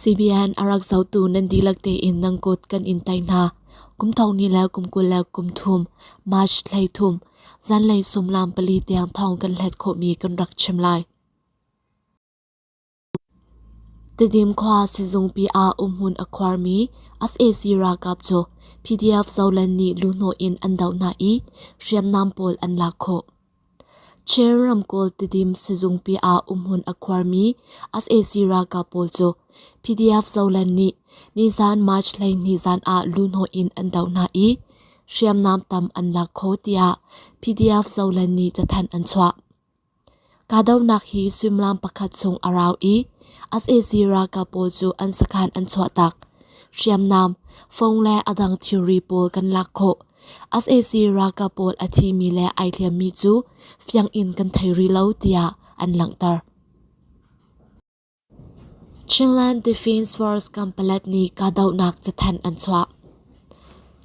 CBN a rak zohtu nan dihlak tein nan kut kan in tei hna. Kum thong ni le kum kul le kum thum, March hlei thum, zanlei sumlam pali tiang thong kan hlet khawhmi kan rak chim lai. Tedim khua sizungpi ah umhmun a khuarmi sac ralkap cu PDF zolen nih luhhnawh in an doh hna i hriamnam pawl an lak khawh. Chin ramkulh Tidim sizungpi ah umhmun a khuarmi sac ralkap pawl cu PDF Zoland nih nizaan March hleihnih zan ah luhhnawh in an doh hna i hriamnam tam an lak kho tiah PDF Zoland nih cathanh an chuah. Kahdohnak hi suimilam pakhat chung a rau i sac ralkap pawl cu an sakhan an chuahtak. Hriamnam, fong le a dang thilri pawl kan lak khawh sac ralkap pawl a thimi le ai hliammi cu fiang in kan thei rih lo tiah an langhter. Chinland Defence Force kampalat nih kahdohnak cathanh an chuah.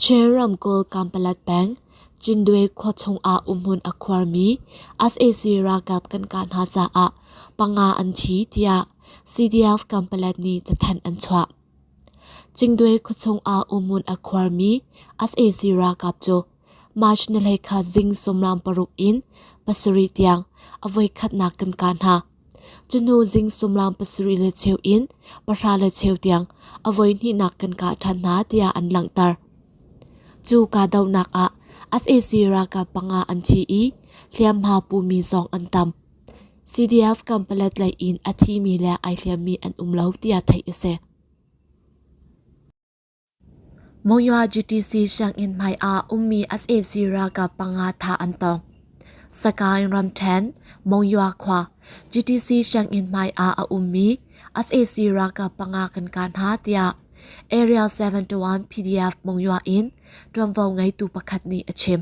Chin ramkulh kampalat peng Cindwe khua chungah umhmun a khuarmi sac ralkap kan kah hna caah panga an thi tiah CDF kampalat nih cathanh an chuah. Cingdwe khuachung ah umun a khuarmi sac ralkap cu March ni hlei kha zing sumlam paruk in pasarih tiang a voikhatnak kan kah hna. Cunu zing sumlam pasarih le cheu in pahra le cheu tiang a voihnihnak kan kah ṭhan hna tiah an langhter. Cu kahdohnak ah sac ralkap panga an thi i hliamhma pumi zong an tam. CDF kam palet lei in a thimi le ai hliammi an um lo tiah theih a si. Monywa GTC sianginn hmai ah ummi sac ralkap panga tha an tong. Sakaing ramthen, Monywa khua, GTC sianginn hmai ah a ummi sac ralkap panga kan kan ha tiah Area 71 PDF Monywa in tuanvo ngeitu pakhat nih a chim.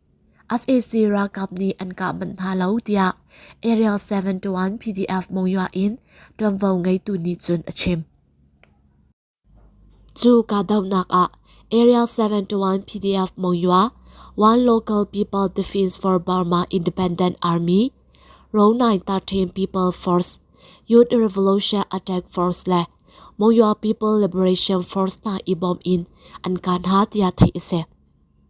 sac ralkap nih an kah manh hna lo tiah area 721 pdf monywa in ṭuanvo ngeitu nih cun a chim. Cu kahdohnak ah Area 721 PDF Monywa One Local People Defense for Burma Independent Army ro 913 People Force Youth Revolution Attack Force le Monywa People Liberation Force hna i bawm in an kah hna tiah theih a si.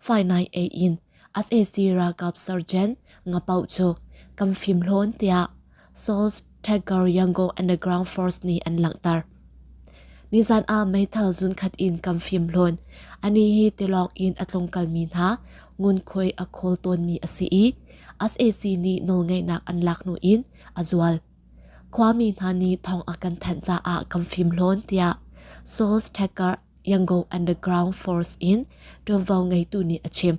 Fainai ei in SAC ralkap sergeant ngapau cu kan fim hlawn tiah Seoul's Tiger Yangon Underground Force nih an langhter. Nizan ah meithal zun khat in kan fim hlawn. Ani hi tilawng in a tlungkalmi hna ngunkhuai a khawl tawnmi a si i SAC nih nawlngeihnak an lak hnu in a zual. Khuami hna nih thong a kan thanh caah kan fim hlawn tiah Seoul's Tiger Yangon Underground Force in ṭuanvo ngeitu nih a chim.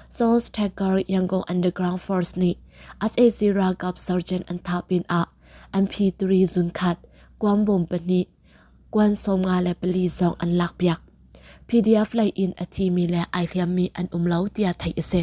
Seoul Stacker Yangon Underground Force nih SAC ralkap sergeant an thah pin ah MP3 zunkhat, kuang bom pahnih, kuan sawmnga le pali zong an lakpiak. PDF lei in a thimi le ai hliammi an um lo tiah theih a si.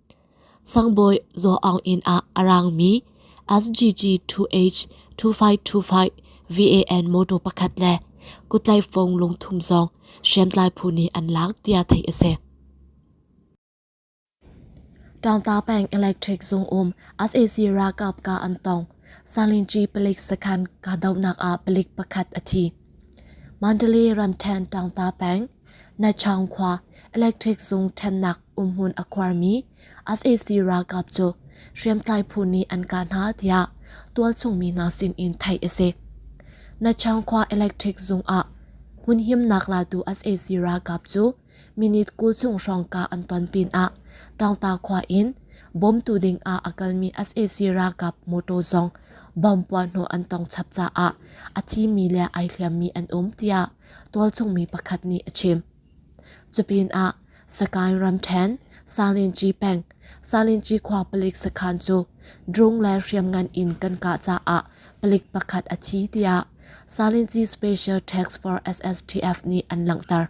Sangbawi Zaw Aung inn ah a raangmi SGG 2H 2525 VAN motor pakhat le kutlaifong lungthum zong hriamtlai phu nih an laak tiah theih a si. Tangta Peng Electric Zung um SAC ralkap ka an tong Salinci palik sakhan kahdohnak ah palik pakhat a thi. Mandalay Ramthen Tangta Peng Nachang khua electric sung ṭhennak umhmun a khuarmi sac ralkap cu hriamtlai phu nih an kah hna tiah tualchungmi hna sinin theih a si. Nachang khua electric zung ah hmun himnak latu sac ralkap cu minute kul chung hrawngka an ton pinah Ṭawngta khua in bawmtu ding ah a kalmi sac ralkap motor zong bomb puahhnawh an tong chap caah a thimi le ai hliammi an um tiah tualchungmi pakhat nih a chim. Cupinah Sakain ramṭhen Salinci peng Salinci khua palik sakhan cu drung le hriamngan in kan kah caah palik pakhat a thi tiah Salinci Special Task Force SSTF nih an langhter.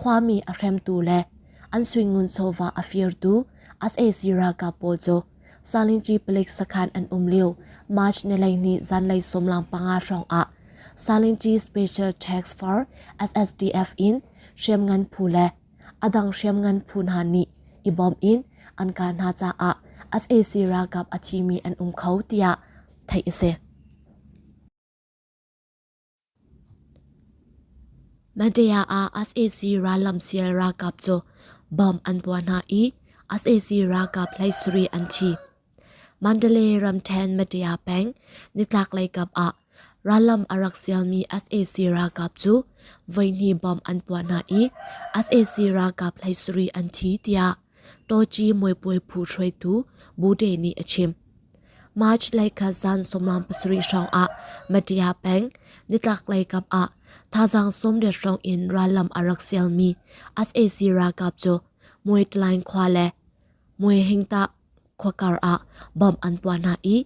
Khuami a hremtu le an suingun chawva a firtu sac ralkap pawl cu Salinci palik sakhan an um lio March nileini zanlei sawmlang panga hrawng ah Salinci Special Task Force SSDF in hriamngan phu le a dang hriamngan phu hna nih i bawm in an kah hna caah sac ralkap a thimi an um kho tiah theih a si. Mandela ah sac rallam sial ralkap cu bom an puah hna i sac ralkap hleisarih an thi. Mandalay ramṭhen Mandela peng nitlaklei kap ah rallam a rak sialmi sac ralkap cu voihnih bom an puah hna i sac ralkap hleisarih an thi tiah Toci muipuai phu hruaitu Bude nih a chim. March lei kha zan sawmlam pasarih hrawng ah Matia peng nitlaklei kap ah thazaang sawmriat hrawng in rallam a rak sialmi sac ralkap cu Muitlaing khua le Muihingta khuakar ah bom an puah hna i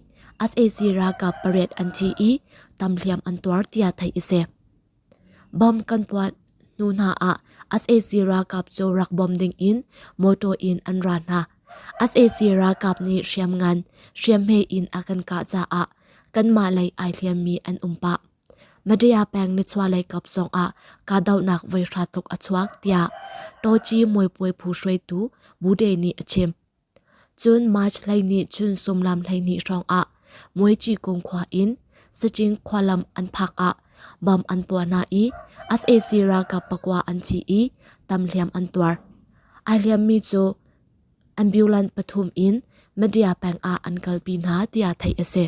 sac ralkap pariat an thi i tamhliam an tuar tiah theih a si. Bom kan puat hnu hna ah sac ralkap cu rak bom dingin motor in an ra hna. sac ralkap nih hriam ngan hriamhme in a kan kah caah kanmah lei ai hliammi an um pah. Madaya peng nichuahlei kap zongah kahdohnak voi hra tuk a chuak tiah Toci muipuai phu hruaitu Bude nih a chim. Cun March hleihnih chun sumlam hleihnih hrawngah Muici kung khua in Sacing khua lam an phak ah bam an puah hna i sac ralkap pakua an thi i tam hliam an tuar. Ai hliammi cu ambulance pathum in Madya peng ah an kalpi hna tiah theih a si.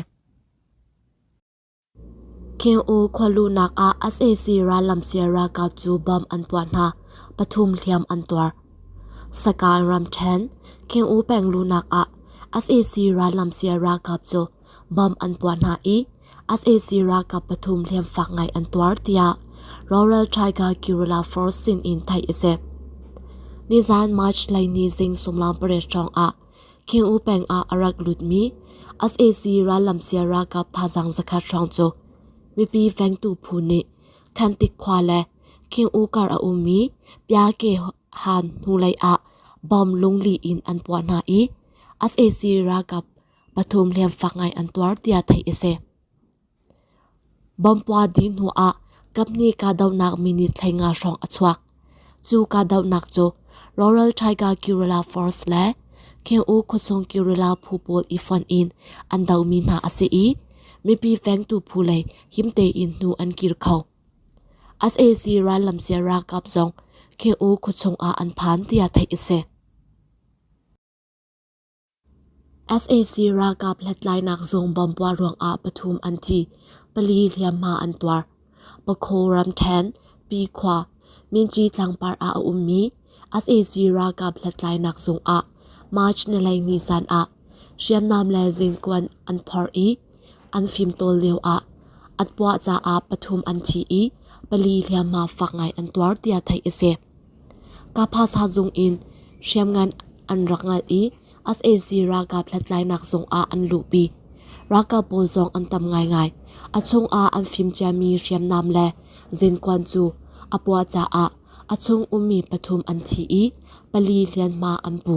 Kheng-u khua luhnak ah sac rallam sial ralkap cu bom an tuah hna, pathum hliam an tuar. Sakaan ramṭhen, Kheng-u peng luhnak ah sac rallam sial ralkap cu bom an puah hna i sac ralkap pathum hliam fak ngai an tuar, tiah Rawral Tiger Guerrilla Force sinin theih a si. Nizan March lei ni zing sumlang pariat hrawng ah King'u peng ah a rak lutmi sac rallam sia ralkap thazaang zakhat hrawng cu mipi vengtu phu nih Khantik khua le King'u kar a ummi Pyakye Han hnulei ah bom lunglih in an puah hna i sac ralkap pathum hliamfak ngai an tuar tiah theih a si. Bawmhpua dih hnu ah kapnih kahdohnak minute hlei nga hrawng a chuak. Cu kahdohnak cu Rural Tiger Guerrilla Force le Kheng-u khuasung guerrilla phu pawl i fonh in an dohmi hna a si i mipi vengtu phu lei himte in hnu an kir kho. SAC rallam sia ralkap zong Kheng-u khuachung ah an phan tiah theih a si. sac ralkap hlathlainak zung bomb-puah ruangah pathum an thi, pali hliamhma an tuar. Pakhaw ramṭhen, Pi khua, Minci tlangpar ah a ummi sac ralkap hlathlainak zung ah March nilei ni zan ah hriamnam le zingkuan an phorh i an fimtawl lioah an puah caah pathum an thi i pali hliamhma fak ngai an tuar tiah theih a si. Kaphasa zung in hriamngan an rak ngal i sac ralkap hlathlainak zung ah an luhpi. Ralkap pawl zong an tam ngaingai. A chungah an fim ciami hriamnam le zenkuan cu a puah caah a chung ummi pathum an thi i pali hlianhma an pu.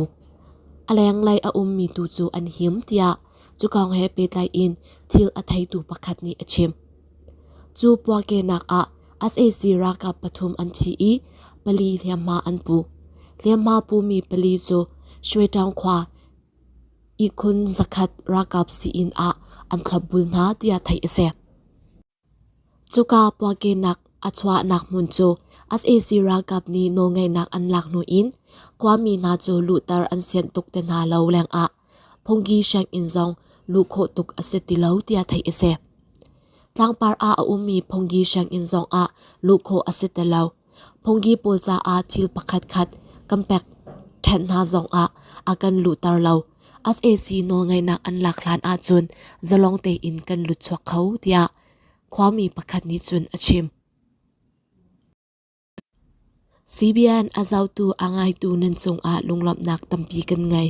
A lenglei a ummi tu cu an him tiah cukang he pehtlai in thil a theitu pakhat nih a chim. Cu puahkenak ah sac ralkap pathum an thi i pali hliamhma an pu. Hliamhma pumi pali cu Shueṭaung khua ihkhun zakhat ralkap sii-inn ah an thlopbul hna tiah theih a si. Cuka puahkenak a chuahnak hmun cu sac ralkap nih nawlngeihnak an lak hnu in khuami hna cu luhter an sianh tuk te hna lo lengah Phungki sianginn zong luh khawh tuk a si ti lo tiah theih a si. Tlangpar ah a ummi Phungki sianginn zong ah luh khawh a si ti lo. Phungki pawl caah thil pakhatkhat kan pek ṭhan hna zong ah a kan luhter lo. SAC nawlngeihnak an lak hlan ahcun zalong tein kan lut chuak kho tiah khuami pakhat nih cun a chim. CBN a zotu a ngaitu nan cungah lunglawmhnak tampi kan ngei.